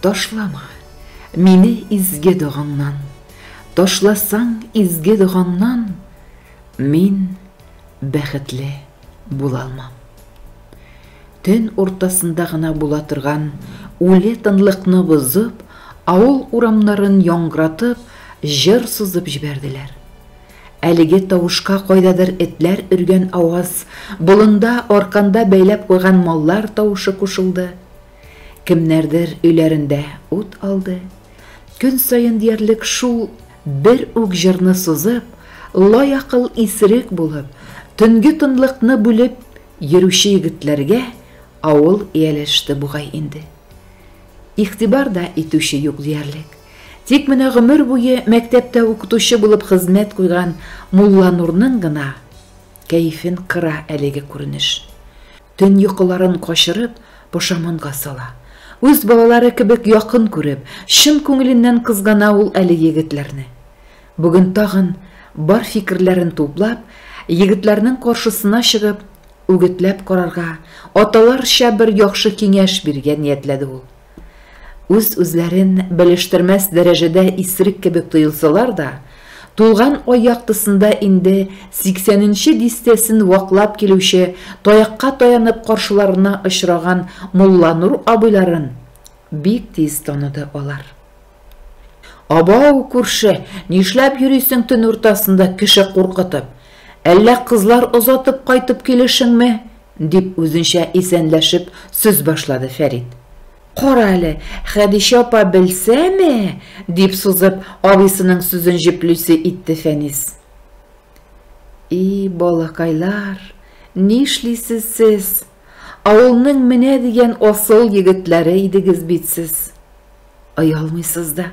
ташлама мине изге догаңнан ташласаң изге догаңнан мин бәхетле була алмам төн уртасында гына була торган үле тынлыкны бозып авыл урамнарын яңгыратып җыр сызып җибәрделәр Әлеге тавышка кайдадыр этләр өргән аваз, болында, арканда бәйләп куйган маллар тавышы кушылды. Кемнәрдер өйләрендә ут алды. Көн саен диярлек шул бер үк җырны сузып, лаякыл исерек булып, төнге тынлыкны бүлеп йөрүче егетләргә авыл ияләште бугай инде. Игътибар да итүче юк диярлек. Тик менә гомер буе мәктәптә укытучы булып хезмәт куйган Мулланурның гына кәефен кыра әлеге күренеш. Төн йокыларын качырып, пошаманга сала. Үз балалары кебек якын күреп, чын күңеленнән кызгана ул әле егетләрне. Бүген тагын, бар фикерләрен туплап, егетләрнең каршысына чыгып, үгетләп карарга, аталарча бер яхшы киңәш бирергә ниятләде ул. Үз-үзләрен белештермәс дәрәҗәдә исерек кебек тоелсалар да, тулган ай яктысында инде сиксәненче дистәсен ваклап килүче таякка таянып каршыларына очраган Мулланур абыйларын бик тиз таныды алар. Абау, күрше, нишләп йөрисең төн уртасында кеше куркытып? Әллә кызлар озатып кайтып килешеңме? дип үзенчә исәнләшеп сүз башлады Фәрит. Кара әле, Хәдичә апа белсәме? дип сузып, абыйсының сүзен җеплүсе итте Фәнис. И, балакайлар, нишлисез сез? Авылның менә дигән асыл егетләре идегез бит сез. Оялмыйсыз да.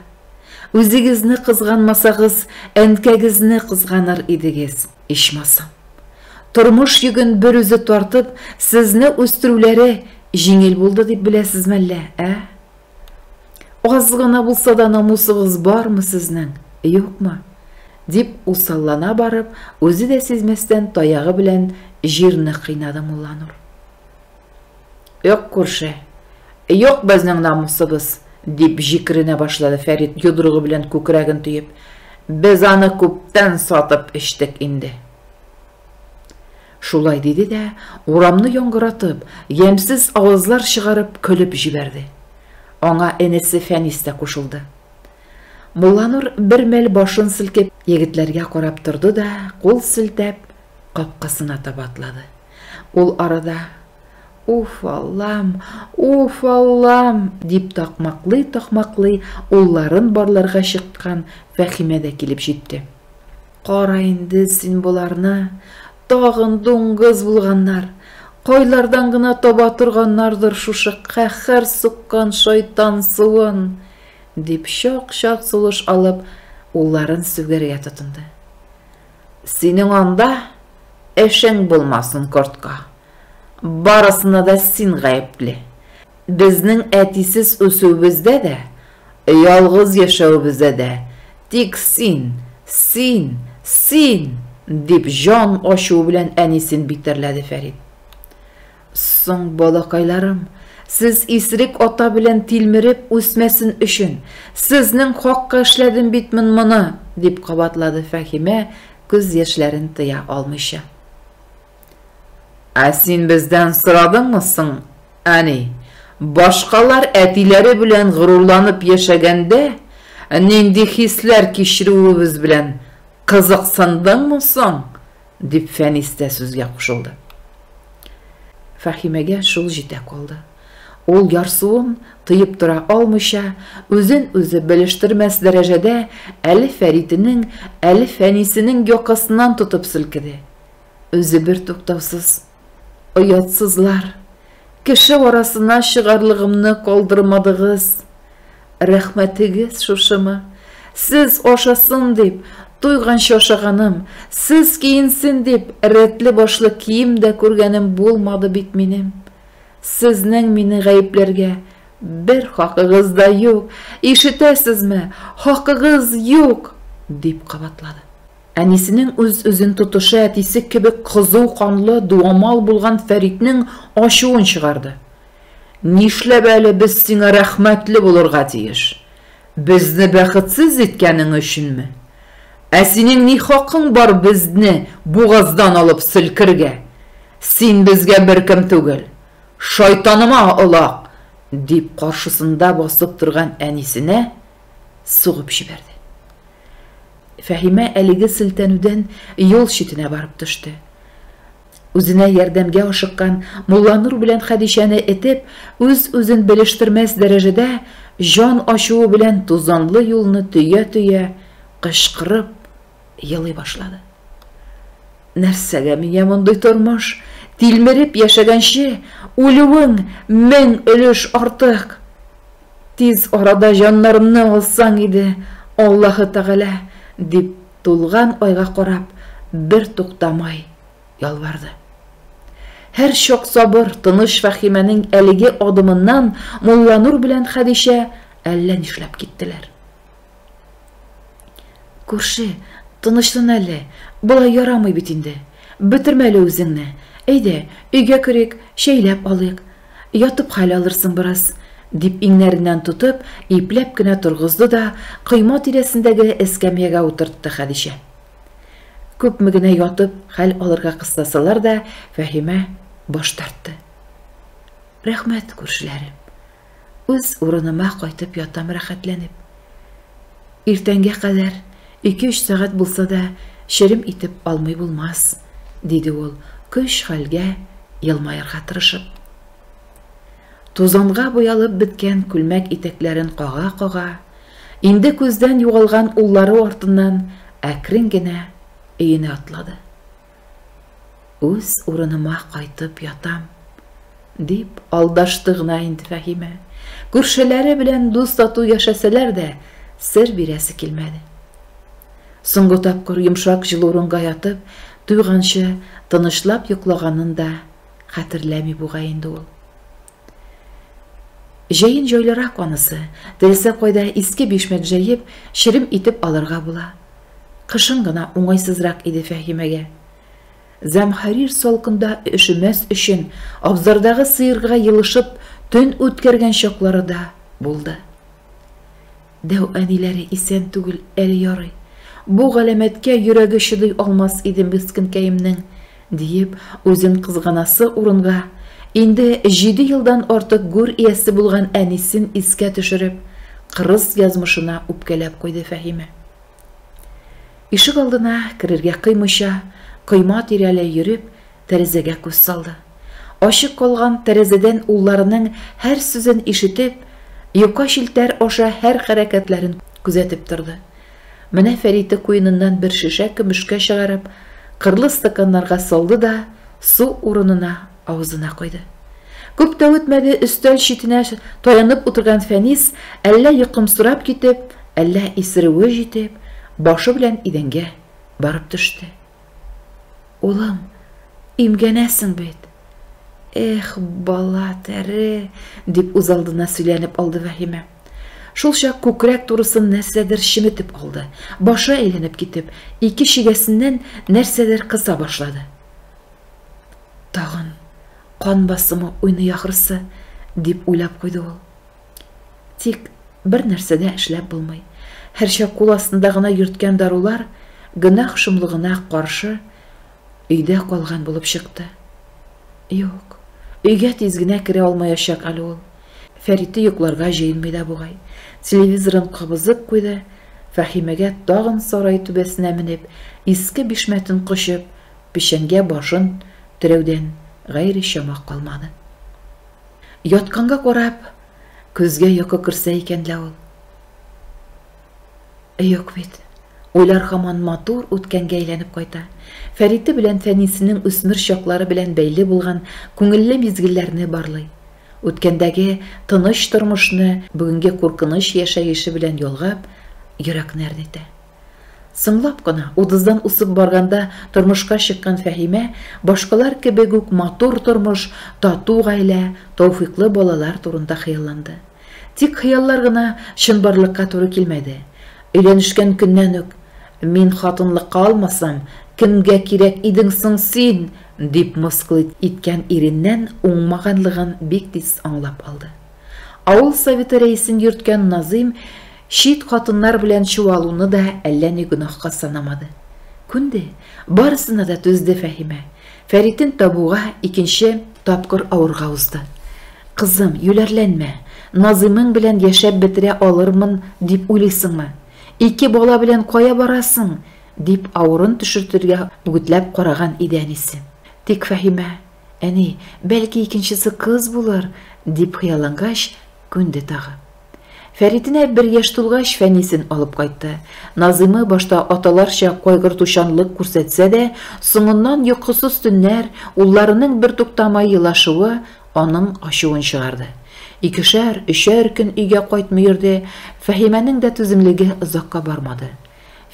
Үзегезне кызганмасагыз, әнкәгезне кызганыр идегез, ичмасам. Тормыш йөген бер үзе тартып, сезне үстерүләре җиңел булды дип беләсез мәллә, ә? Аз гына булса да намусыгыз бармы сезнең, юкмы? дип усаллана барып, үзе дә сизмәстән таягы белән җирне кыйнады Мулланур. Юк, күрше. Юк безнең намусыбыз, дип җикеренә башлады Фәрит йодрыгы белән күкрәген төеп. Без аны күптән сатып эчтек инде. Шулай диде дә, урамны яңгыратып, ямьсез авазлар чыгарып көлеп җибәрде. Аңа энесе Фәнис тә кушылды. Мулланур бер мәл башын селкеп, егетләргә карап торды да, кул селтәп, капкасына таба атлады. Ул арада, Уф, Аллам, уф, Аллам! дип такмаклый-такмаклый улларын барларга чыккан Фәхимә дә килеп җитте. Кара инде син боларны, тагын дуңгыз булганнар. Кайлардан гына таба торганнардыр шушы каһәр суккан шайтан суын, дип чак-чак сулыш алып, улларын сүгәргә тотынды. Синең анда Эшең булмасын, кортка. Барысына да син гаепле. Безнең әтисез үсүебездә дә, ялгыз яшәвебездә дә тик син, син, син! дип җан ачуы белән әнисен битәрләде Фәрит. Соң, балакайларым, сез исерек ата белән тилмереп үсмәсен өчен, сезнең хакка эшләдем бит мен моны, дип кабатлады Фәһимә, күз яшьләрен тыя алмыйча. Ә син бездән сорадыңмы соң, әни, башкалар әтиләре белән горурланып яшәгәндә, нинди хисләр кичерүебез белән кызыксындыңмы соң? Дип Фәнис тә сүзгә кушылды. Фәхимәгә шул җитә калды. Ул ярсуын тыеп тора алмыйча, үзен-үзе белештермәс дәрәҗәдә әле Фәритенең, әле Фәнисенең якасыннан тотып селкеде. Үзе бертуктаусыз Оятсызлар, кеше арасына чыгарлыгымны калдырмадыгыз. Рәхмәтегез шушымы? Сез ашасын дип, туйганчы ашаганым, сез киенсен дип, рәтле-башлы кием дә күргәнем булмады бит минем. Сезнең мине гаепләргә бер хакыгыз да юк, ишетәсезме, хакыгыз юк, дип кабатлады. Әнисенең үз-үзен тотышы әтисе кебек кызу канлы, дуамал булган Фәритнең ачуын чыгарды. Нишләп әле без сиңа рәхмәтле булырга тиеш? Безне бәхетсез иткәнең өченме? Ә синең ни хакың бар безне бугаздан алып селкергә? Син безгә беркем түгел. Шайтаныма олак! дип каршысында басып торган әнисенә сугып җибәрде. Фәһимә әлеге селтәнүдән юл читенә барып төште. Үзенә ярдәмгә ашыккан Мулланур белән Хәдичәне этеп, үз-үзен белештермәс дәрәҗәдә җан ачуы белән тузанлы юлны төя-төя, кычкырып, елый башлады. Нәрсәгә миңа мондый тормыш? Тилмереп яшәгәнче, үлүең мең өлеш артык. Тиз арада җаннарымны алсаң иде, Аллаһы Тәгалә, дип, тулган айга карап, бер туктамай ялварды. Һәр чак сабыр, тыныч Фәхимәнең әлеге адымыннан Мулланур белән Хәдичә әллә нишләп киттеләр. Күрше, тынычлан әле, болай ярамый бит инде. Бетермә әле үзеңне. Әйдә, өйгә керик, чәйләп алыйк. Ятып хәл алырсың бераз, дип иңнәреннән тотып, ипләп кенә торгызды да койма тирәсендәге эскәмиягә утыртты Хәдичә. Күпме генә ятып хәл алырга кыстасалар да, Фәһимә баш тартты. Рәхмәт, күршеләрем. Үз урыныма кайтып ятам рәхәтләнеп. Иртәнгә кадәр ике-өч сәгать булса да черем итеп алмый булмас, диде ул, көч-хәлгә елмаерга тырышып. Тузанга буялып беткән күлмәк итәкләрен кага-кага, инде күздән югалган уллары артыннан әкрен генә өенә атлады. Үз урыныма кайтып ятам, дип алдашты гына инде Фәһимә. Күршеләре белән дус-тату яшәсәләр дә, сер бирәсе килмәде. Соңгы тапкыр йомшак җылы урынга ятып, туйганчы тынычлап йоклаганын да хәтерләми бугай инде ул. Җәен җайлырак анысы, теләсә кайда иске бишмәт җәеп, черем итеп алырга була. Кышын гына уңайсызрак иде Фәһимәгә. Зәмхәрир салкында өшемәс өчен, абзардагы сыерга елышып, төн үткәргән чаклары да булды. Дәү әниләре исән түгел әле ярый. Бу галәмәткә йөрәге чыдый алмас иде мескенкәемнең, диеп, үзен кызганасы урынга, инде җиде елдан артык гүр иясе булган әнисен искә төшереп, кырыс язмышына үпкәләп куйды Фәһимә. Ишегалдына керергә кыймыйча, койма тирәләй йөреп, Тәрәзәгә күз салды. Ачык калган тәрәзәдән улларының һәр сүзен ишетеп, йока челтәр аша һәр хәрәкәтләрен күзәтеп торды. Менә Фәриде куеныннан бер шешә көмешкә чыгарып, кырлы стаканнарга салды да су урынына авызына койды. Күп тә үтмәде, өстәл читенә таянып утырган Фәнис, әллә йокымсырап китеп, әллә исерүе җитеп, башы белән идәнгә барып төште. Улым, имгәнәсең бит. Эх, бала, тәре, дип үзалдына сөйләнеп алды Вәһимә. Шулчак күкрәк турысын нәрсәдер чеметеп алды. Башы әйләнеп китеп, ике чигәсеннән нәрсәдер кыса башлады. Тагын кан басымы уйный ахрысы, дип уйлап куйды ул. Тик бер нәрсә дә эшләп булмый. Һәрчак кул астында гына йөрткән дарулар гөнаһ шомлыгына каршы өйдә калган булып чыкты. Юк, өйгә тиз генә керә алмаячак әле ул. Фәриты йокларга җыенмый да бугай. Телевизорын кабызып куйды, Фәһимәгә тагын сарай түбәсенә менеп, иске бишмәтен кочып, печәнгә башын терәүдән гайре чама калмады. Ятканга карап, көзгә йокы керсә икән лә ул. Э, юк бит. Уйлар хаман матур үткәнгә әйләнеп кайта. Фәриты белән Фәнисенең үсмер чаклары белән бәйле булган күңелле мизгелләрне барлый. Үткәндәге тыныч тормышны бүгенге куркыныч яшәеше белән ялгап, йөрәкне әрнетә. Соңлап кына, утыздан усып барганда тормышка чыккан Фәһимә башкалар кебек үк матур тормыш, тату гаилә, тауфыйклы балалар турында хыялланды. Тик хыяллар гына чынбарлыкка туры килмәде. Өйләнешкән көннән үк, Мин хатынлыкка алмасам, кемгә кирәк идең соң син? дип мыскыл иткән иреннән уңмаганлыгын бик тиз аңлап алды. Авыл советы рәисен йөрткән Назыйм чит хатыннар белән чуалуны да әллә ни гөнаһка санамады. Күнде, барысына да түзде Фәһимә. Фәритен табуга икенче тапкыр авырга узды. Кызым, юләрләнмә. Назыймың белән яшәп бетерә алырмын дип уйлыйсыңмы? Ике бала белән кая барасың? дип авырын төшертергә үгетләп караган иде әнисе. Тик Фәһимә Әни, бәлки икенчесе кыз булыр, дип хыяллангач, күнде тагы. Фәритенә бер яшь тулгач, Фәнисен алып кайтты. Назыймы башта аталарча кайгыртучанлык күрсәтсә дә, соңыннан йокысыз төннәр, улларының бертуктамай елашуы аның ачуын чыгарды. Икешәр, өчәр көн өйгә кайтмый йөрде, Фәһимәнең дә түземлеге озакка бармады.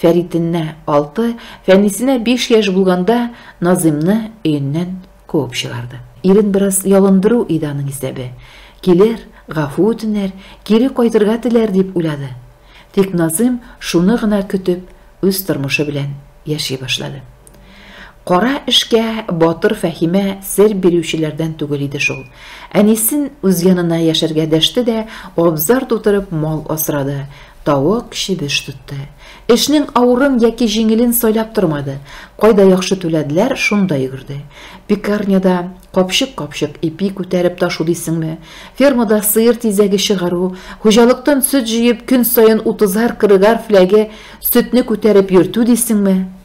Фәритенә, алты, Фәнисенә биш яшь булганда Назыймны өеннән куып чыгарды. Ирен бераз ялындыру иде аның исәбе. Килер, гафу үтенер, кире кайтырга теләр дип уйлады. Тик Назыйм шуны гына көтеп, үз тормышы белән яши башлады. Кара эшкә батыр Фәһимә сер бирүчеләрдән түгел иде шул. Әнисен үз янына яшәргә дәште дә, абзар тутырып мал асрады, тавык, чебеш тотты. Эшнең авырын яки җиңелен сайлап тормады, кайда яхшы түләделәр, шунда йөгерде. Пекарняда капчык-капчык ипи күтәреп ташу дисеңме, фермада сыер тизәге чыгару, хуҗалыктан сөт җыеп, көн саен утызар-кырыгар фляге сөтне күтәреп йөртү дисеңме?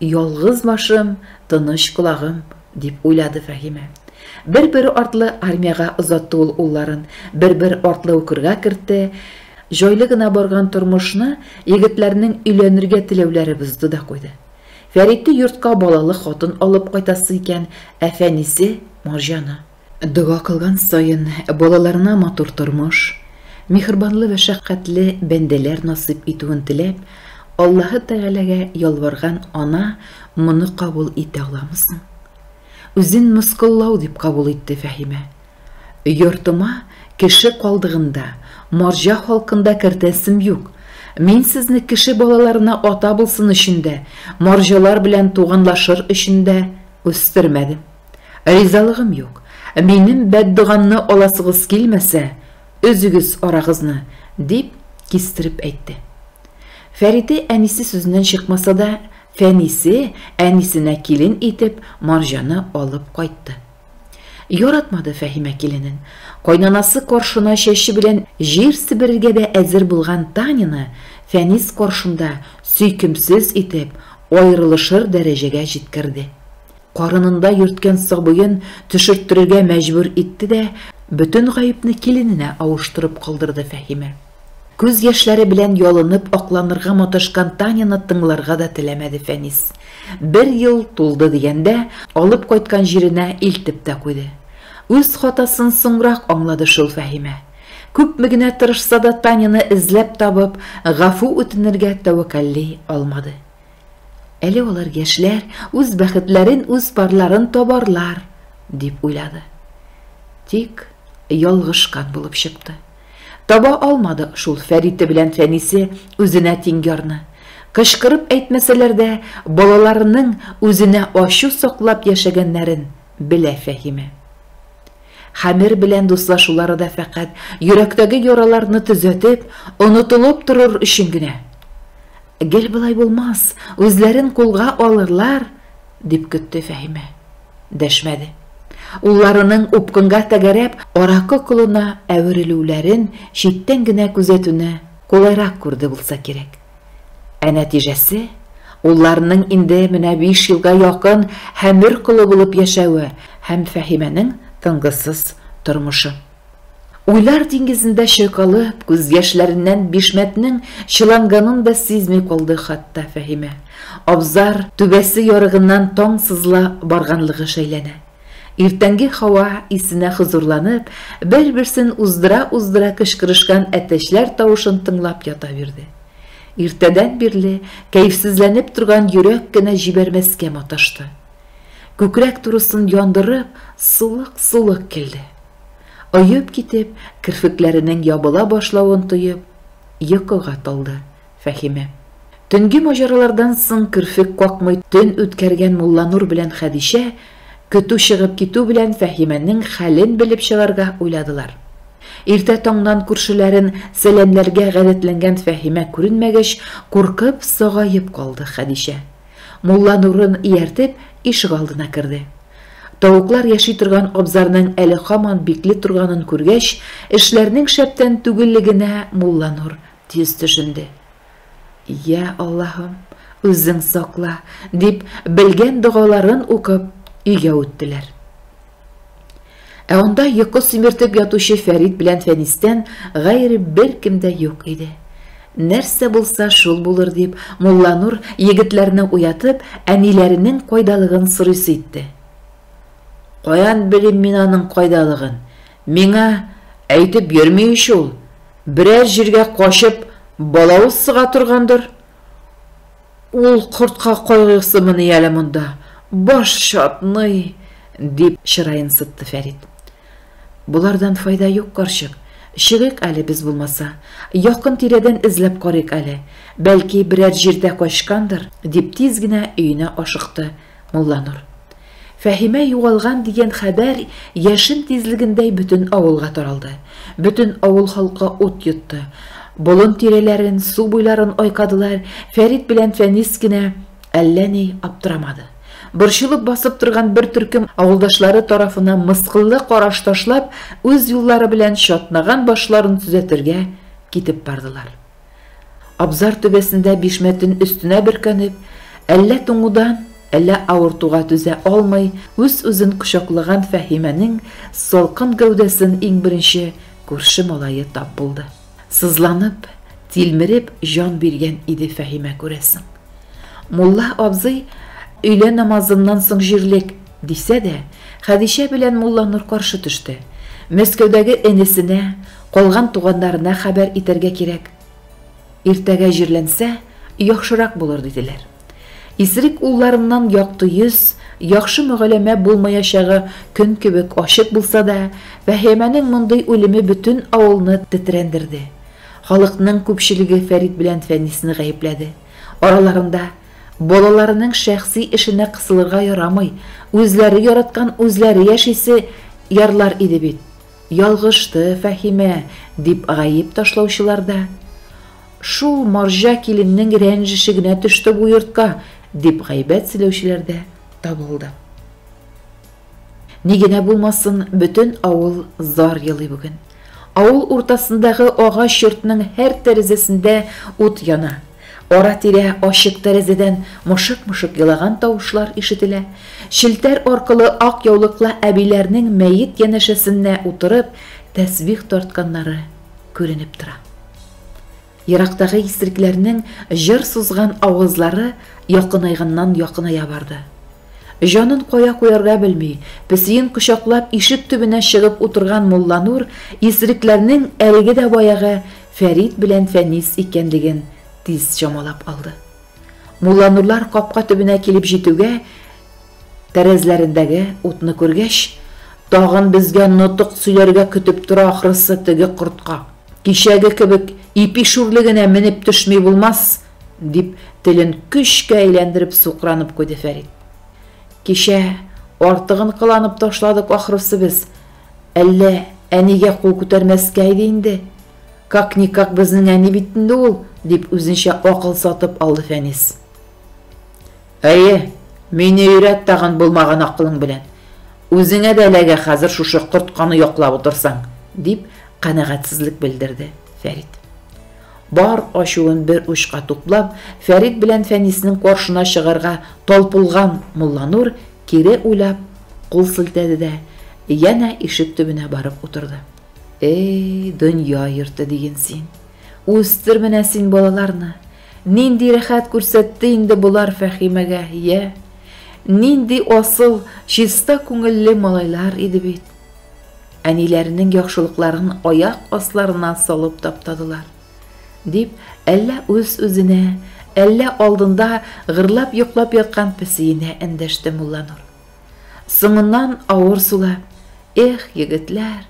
Ялгыз башым, тыныч колагым, дип уйлады Фәһимә. Бер-бер артлы армиягә озатты ул улларын, бер-бер артлы укырга кертте. Җайлы гына барган тормышны егетләрнең өйләнергә теләүләре бозды да куйды. Фәритте йортка балалы хатын алып кайтасы икән, ә Фәнисе, Марҗаны. Дога кылган саен, балаларына матур тормыш, миһербанлы вә шәфкатьле бәндәләр насыйп итүен теләп, Аллаһы Тәгаләгә ялварган ана моны кабул итә аламы соң? Үзен мыскыллау дип кабул итте Фәһимә. Йортыма кеше калдыгында, марҗа халкында кертәсем юк. Мин сезне кеше балаларына ата булсын өчен дә, марҗалар белән туганлашыр өчен дә үстермәдем. Ризалыгым юк. Минем бәддогамны аласыгыз килмәсә, өзегез арагызны, дип кистереп әйтте. Фәрите әнисе сүзеннән чыкмаса да, Фәнисе әнисенә килен итеп Марҗаны алып кайтты. Яратмады Фәһимә киленен. Кайнанасы каршына чәче белән җир себерергә дә әзер булган Таняны Фәнис каршында сөйкемсез итеп аерылышыр дәрәҗәгә җиткерде. Карынында йөрткән сабыен төшерттерергә мәҗбүр итте дә, бөтен гаепне килененә авыштырып калдырды Фәһимә. Күз яшьләре белән ялынып акланырга маташкан Таняны тыңларга да теләмәде Фәнис. Бер ел тулды дигәндә, алып кайткан җиренә илтеп тә куйды. Үз хатасын соңрак аңлады шул Фәһимә. Күпме генә тырышса да Таняны эзләп табып, гафу үтенергә тәвәккәлли алмады. Әле алар яшьләр, үз бәхетләрен, үз парларын табарлар, дип уйлады. Тик ялгышкан булып чыкты. Таба алмады шул Фәрите белән Фәнисе үзенә тиң ярны. Кычкырып әйтмәсәләр дә, балаларының үзенә ачу саклап яшәгәннәрен белә Фәһимә. Хәмер белән дуслашулары да фәкать йөрәктәге яраларны төзәтеп, онытылып торыр өчен генә. Гел болай булмас, үзләрен кулга алырлар, дип көтте Фәһимә. Дәшмәде. Улларының упкынга тәгәрәп, аракы колына әверелүләрен читтән генә күзәтүне кулайрак күрде булса кирәк. Ә нәтиҗәсе, улларының инде менә биш елга якын хәмер колы булып яшәве һәм Фәһимәнең тынгысыз тормышы. Уйлар диңгезендә чайкалып, күз яшьләреннән бишмәтнең чыланганын да сизми калды хатта Фәһимә. Абзар түбәсе ярыгыннан таң сызыла барганлыгы шәйләнә. Иртәнге һава исенә хозурланып, бер-берсен уздыра-уздыра кычкырышкан әтәчләр тавышын тыңлап ята бирде. Иртәдән бирле кәефсезләнеп торган йөрәк кенә җибәрмәскә маташты. Күкрәк турысын яндырып, сулык-сулык килде. Оеп китеп, керфекләренең ябыла башлавын тоеп, йокыга талды. Фәһимә. Төнге маҗаралардан соң керфек какмый төн үткәргән Мулланур белән Хәдичә, көтү чыгып китү белән, Фәһимәнең хәлен белеп чыгарга уйладылар. Иртә таңнан күршеләрен сәламләргә гадәтләнгән Фәһимә күренмәгәч, куркып, сагаеп калды Хәдичә. Мулланурын ияртеп, ишегалдына керде. Тавыклар яши торган абзарның әле һаман бикле торганын күргәч, эшләрнең шәптән түгеллегенә Мулланур Тиз төшенде. Йә, Аллаһым, үзең сакла, дип, белгән догаларын укып, өйгә үттеләр. Ә анда йокы симертеп ятучы Фәрит белән Фәнистән гайре беркем дә юк иде. Нәрсә булса, шул булыр дип, Мулланур егетләрне уятып, әниләренең кайдалыгын сорыйсы итте. Каян белим мин аның кайдалыгын? Миңа әйтеп йөрми ич ул, берәр җиргә качып балавыз сыга торгандыр. Ул кортка кайгырсымыни әле монда, баш чатный, дип чыраен сытты Фәрит. Болардан файда юк, карчык. Чыгыйк әле без булмаса. Якын-тирәдән эзләп карыйк әле. Бәлки, берәр җирдә качкандыр, дип тиз генә өенә ашыкты Мулланур. Фәһимә югалган дигән хәбәр яшен тизлегендәй бөтен авылга таралды. Бөтен авыл халкы ут йотты. Болын тирәләрен, су буйларын айкадылар, Фәрит белән Фәнис кенә әллә ни аптырамады. Борчылып басып торган бер төркем авылдашлары тарафына мыскыллы караш ташлап, үз юллары белән чатнаган башларын төзәтергә китеп бардылар. Абзар түбәсендә бишмәтен өстенә бөркәнеп, әллә туңудан, әллә авыртуга түзә алмый, үз-үзен кочаклаган Фәһимәнең салкын гәүдәсен иң беренче күрше малае тап булды. Сызланып, тилмереп җан биргән иде Фәһимә, күрәсең. Мулла абзый, өйлә намазыннан соң җирлек, Дисә дә, Хәдичә белән Мулланур каршы төште. Мәскәүдәге энесенә, калган туганнарына хәбәр итәргә кирәк. Иртәгә җирләнсә, яхшырак булыр, диделәр. Исерек улларыннан якты йөз, яхшы мөгәләмә булмаячагы көн кебек ачык булса да, Фәһемәнең мондый үлеме бөтен авылны тетрәндерде. Халыкның күпчелеге Фәрит белән Фәнисне гаепләде. Араларында Балаларының шәхси эшенә кысылырга ярамый, үзләре яраткан үзләре яшисе ярлар иде бит. Ялгышты Фәһимә, дип гаеп ташлаучылар да. Шул марҗа киленнең рәнҗеше генә төште бу йортка, дип гайбәт сөйләүчеләр дә табылды. Ни генә булмасын, бөтен авыл зар елый бүген. Авыл уртасындагы агач йортның һәр тәрәзәсендә ут яна. Ара-тирә ачык тәрәзәдән мышык-мышык елаган тавышлар ишетелә. Челтәр аркылы ак яулыклы әбиләрнең мәет янәшәсеннә утырып, тәсбих тартканнары күренеп тора. Ерактагы исрекләрнең җыр сузган авазлары якынайганнан-якыная барды. Җанын кая куярга белми, песиен кочаклап ишек төбенә чыгып утырган Мулланур исрекләрнең әлеге дә баягы Фәрит белән Фәнис икәнлеген тиз чамалап алды. Мулланурлар капка төбенә килеп җитүгә, тәрәзләрендәге утны күргәч, Тагын безгә нотык сөйләргә көтеп тора ахрысы теге кортка! Кичәге кебек ипи шүрлегенә менеп төшми булмас, дип, телен көчкә әйләндереп сукранып куйды Фәрит. Кичә артыгын кыланып ташладык, ахрысы, без. Әллә әнигә кул күтәрмәскә иде инде. Как-никак безнең әни бит инде ул, дип үзенчә акыл сатып алды Фәнис. Әйе, мине өйрәт тагын булмаган акылың белән. Үзеңә дә эләгә хәзер шушы кортканы яклап утырсаң, дип, канәгатьсезлек белдерде Фәрит. Бар ачуын бер учка туплап, Фәрит белән Фәниснең каршына чыгарга талпылган Мулланур кире уйлап, кул селтәде дә, янә ишек төбенә барып утырды. Эй, дөнья йорты диген син. Үстер менә син балаларны. Нинди рәхәт күрсәтте инде болар Фәхимәгә, йә! Нинди асыл, чиста күңелле малайлар иде бит! Әниләренең яхшылыкларын аяк асларына салып таптадылар. Дип, әллә үз-үзенә, әллә алдында гырлап йоклап яткан песиенә эндәште Мулланур. Соңыннан авыр сулап, Эх, егетләр,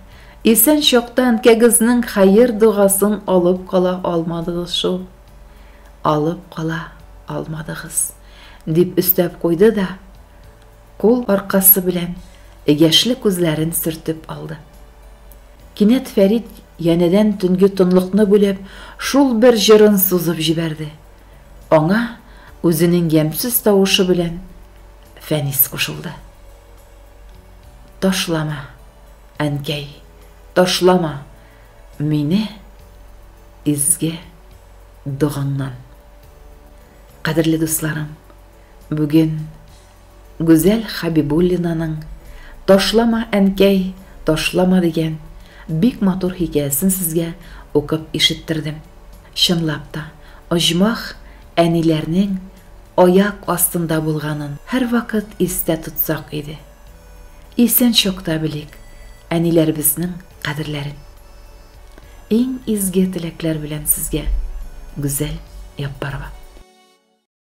исән чакта әнкәгезнең хәер-догасын алып кала алмадыгыз шул. Алып кала алмадыгыз, дип өстәп куйды да, кул аркасы белән яшьле күзләрен сөртеп алды. Кинәт Фәрит янәдән төнге тынлыкны бүлеп, шул бер җырын сузып җибәрде. Аңа үзенең ямьсез тавышы белән Фәнис кушылды. Ташлама, әнкәй, ташлама мине изге догаңнан. Кадерле дусларым, бүген Гүзәл Хабибуллинаның Ташлама, әнкәй, ташлама дигән бик матур хикәясен сезгә укып ишеттердем. Чынлап та, оҗмах әниләрнең аяк астында булганын һәрвакыт истә тотсак иде. Исән чакта белик әниләребезнең кадерләрен. Иң изге теләкләр белән сезгә, Гүзәл Яппарова.